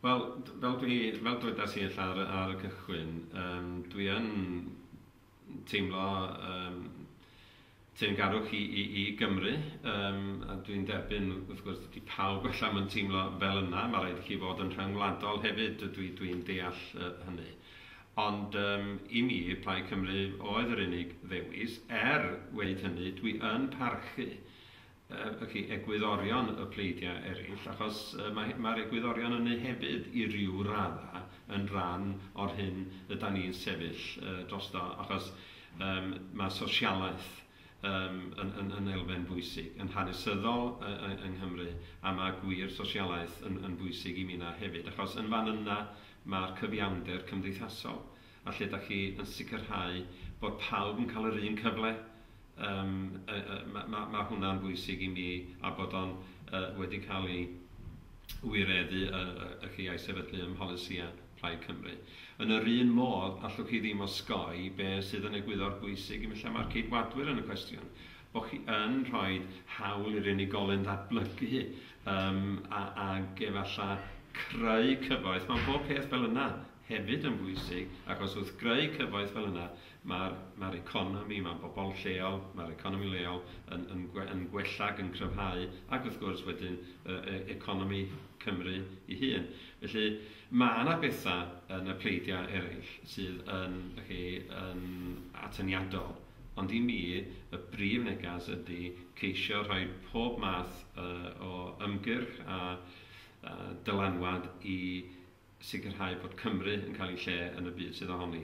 Wel, fel dwi, fel dwedas i ella ar, ar y cychwyn, um, dwi yn teimlo um, teyrngarwch i, i, i Gymru, um, a dwi'n derbyn, wrth gwrs, dydy pawb allan mae'n teimlo fel yna, mae rhaid i chi fod yn rhyngwladol hefyd, dwi'n dwi, deall uh, hynny. Ond um, i mi, Plaid Cymru oedd yr unig ddewis, er wedi hynny, dwi yn parchu Felly, egwyddorion y pleidiau eraill, achos mae'r egwyddorion ynni hefyd i ryw raddau yn rhan o'r hyn ydan ni'n sefyll drosto, achos mae sosialaeth yn elfen bwysig, yn hanesyddol yng Nghymru, a mae gwir sosialaeth yn bwysig i minnau hefyd, achos yn fan yna mae'r cyfiawnder cymdeithasol. a lle da chi yn sicrhau bod pawb yn cael yr un cyfle, yym yy yy ma' ma' ma' hwnna'n bwysig i mi a bod o'n yy wedi cael ei wireddu yy yy y chi a'i sefydlu ym mholisïau Plaid Cymru. Yn yr un modd, allwch chi ddim osgoi be' sydd yn egwyddor bwysig i mi lle mae'r Ceidwadwyr yn y cwestiwn, bo' chi yn rhoi hawl i'r unigolyn ddatblygu yym a ag efalla creu cyfoeth, ma' pob peth fel yna, hefyd yn bwysig achos wrth greu cyfoeth fel yna mae'r mae'r economi, mae bobl lleol, mae'r economi leol yn yn gwe- yn gwella ac yn cryfhau ac wrth gwrs wedyn yy e- economi Cymru ei hun. Felly ma' 'na betha yn y pleidiau eraill sydd yn dych chi yn atyniadol ond i mi y brif negas ydi ceisio rhoi pob math yy o ymgyrch a a dylanwad i sicrhau bod Cymru yn cael ei lle yn y byd sydd ohoni.